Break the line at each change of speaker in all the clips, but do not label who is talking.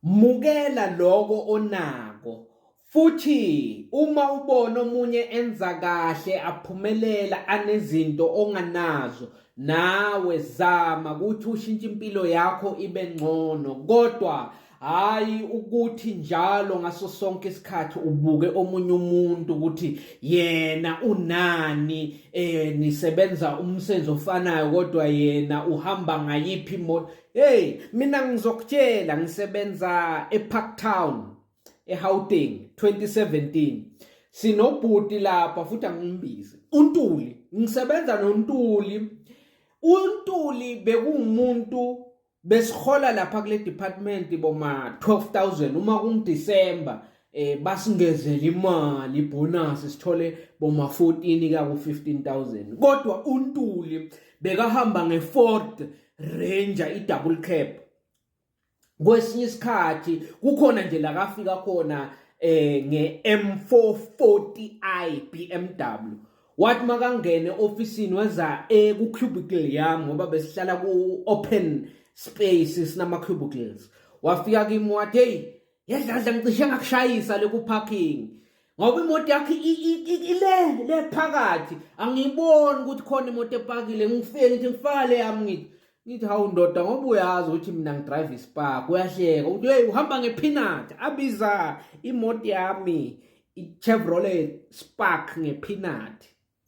Mukela lokho onako. Futhi uma ubona omunye enza kahle aphumelela anezinto onganazo nawe zama ukuthi ushintshe impilo yakho ibe ngcono kodwa hayi ukuthi njalo ngaso sonke isikhathi ubuke omunye umuntu ukuthi yena unani eh nisebenza umsebenzi ofanayo kodwa yena uhamba ngayiphi imoto Hey, mina ngizokutshela ngisebenza eParktown eHauteng 2017. Sinobhuti lapha futhi angimbizi. UNtuli, ngisebenza noNtuli. UNtuli bekuwumuntu besihola lapha kule department boma 12000 uma kungiDecember eh basingezela imali bonus sithole boma 14 ka ku 15000 kodwa untuli bekahamba nge Ford Ranger i double cab kwesinye isikhathi kukhona nje la kafika khona eh nge M440i BMW wathi makangene ofisini weza eh ku cubicle yami ngoba besihlala ku open space sinama cubicles wafika kimi wathi hey yedladla ngicishe ngakushayisa le ku-parking ngoba imoto yakho ile le phakathi angiyiboni ukuthi khona imoto epakile ngifike ngithi ngifaka le yami ngithi ngithi hawu ndoda ngoba uyazi ukuthi mina ngidrive ispark uyahleka ukuthi hey uhamba ngephinat abiza imoto yami i-chevrolet spark ngephinat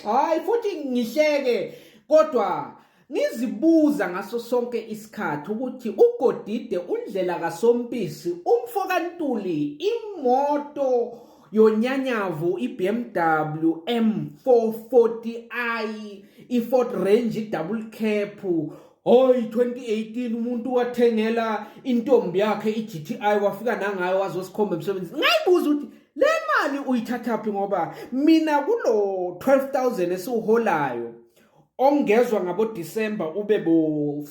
Hayi futhi ngihleke kodwa ngizibuza ngaso sonke isikhathi ukuthi uGodide undlela kaSompisi umfo kaNtuli imoto yonyanyavu iBMW M440i iFord Range double cap Hoy 2018 umuntu wathengela intombi yakhe iGTI wafika nangayo wazosikhomba emsebenzini. Ngayibuza ukuthi le mali uyithathaphi ngoba mina kulo 12000 esiwuholayo ongezwa ngabo December ube bo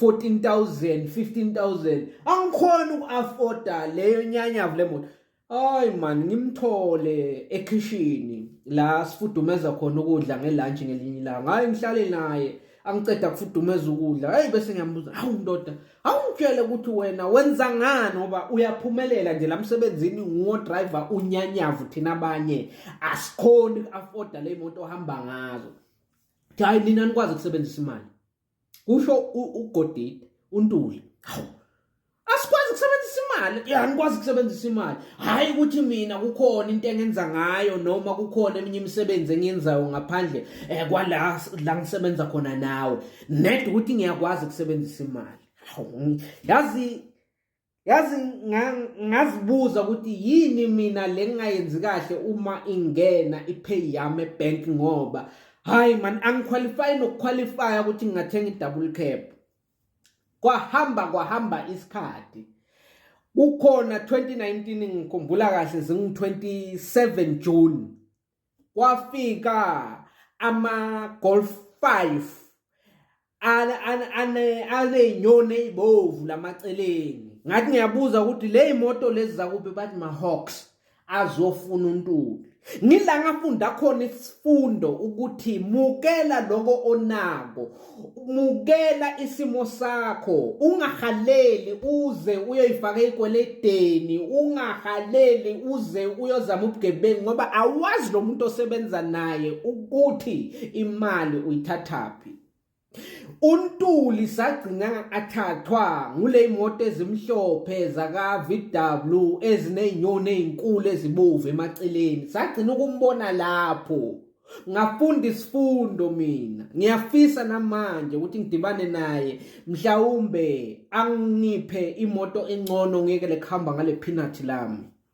14000 15000 angikhona ukuafforda leyo nyanyavu lemoto. Hayi man ngimthole ekhishini la sifudumeza khona ukudla ngelunch ngelinye ilanga. Hayi ngihlale naye angiceda kufudumeza ukudla. Hayi bese ngiyambuza, "Hawu ndoda, awungitshele ukuthi wena wenza ngani ngoba uyaphumelela nje lamsebenzini nguwo driver unyanyavu thina abanye asikhoni uku-afforda le moto ohamba ngazo." Hayi nina nikwazi ukusebenzisa imali. kusho uGodide uNtuli hawu asikwazi ukusebenzisa imali ya ngikwazi ukusebenzisa imali hayi ukuthi mina kukhona into engenza ngayo noma kukhona eminye imisebenzi engiyenzayo ngaphandle eh, kwala la ngisebenza khona nawe ned ukuthi ngiyakwazi ukusebenzisa imali yazi yazi ngazibuza ukuthi yini mina le ngingayenzi kahle uma ingena ipay yami ebank ngoba hayi man angiqualify nokuqualify ukuthi ngingathenga i-double cap kwahamba kwahamba isikhathi kukhona 2019 ngikhumbula kahle zingu 27 June kwafika ama-golf five aney'nyoni ey'bovu lamaceleni ngathi ngiyabuza ukuthi le yimoto lezi zakuphi bathi ma-hawks azofuna untuli ngila ngafunda khona isifundo ukuthi mukela lokho onako mukela isimo sakho ungahaleli uze uyoyifaka ekweledeni ungahaleli uze uyozama ubugebengu ngoba awazi lo muntu osebenza naye ukuthi imali uyithathaphi untuli sagcina athathwa ngule imoto ezimhlophe zaka-vw ezinezinyoni ezinkulu ezibovu emaceleni sagcina ukumbona lapho ngafunda isifundo mina ngiyafisa namanje ukuthi ngidibane naye mhlawumbe angiphe imoto engcono ngeke lekuhamba ngale peanut lami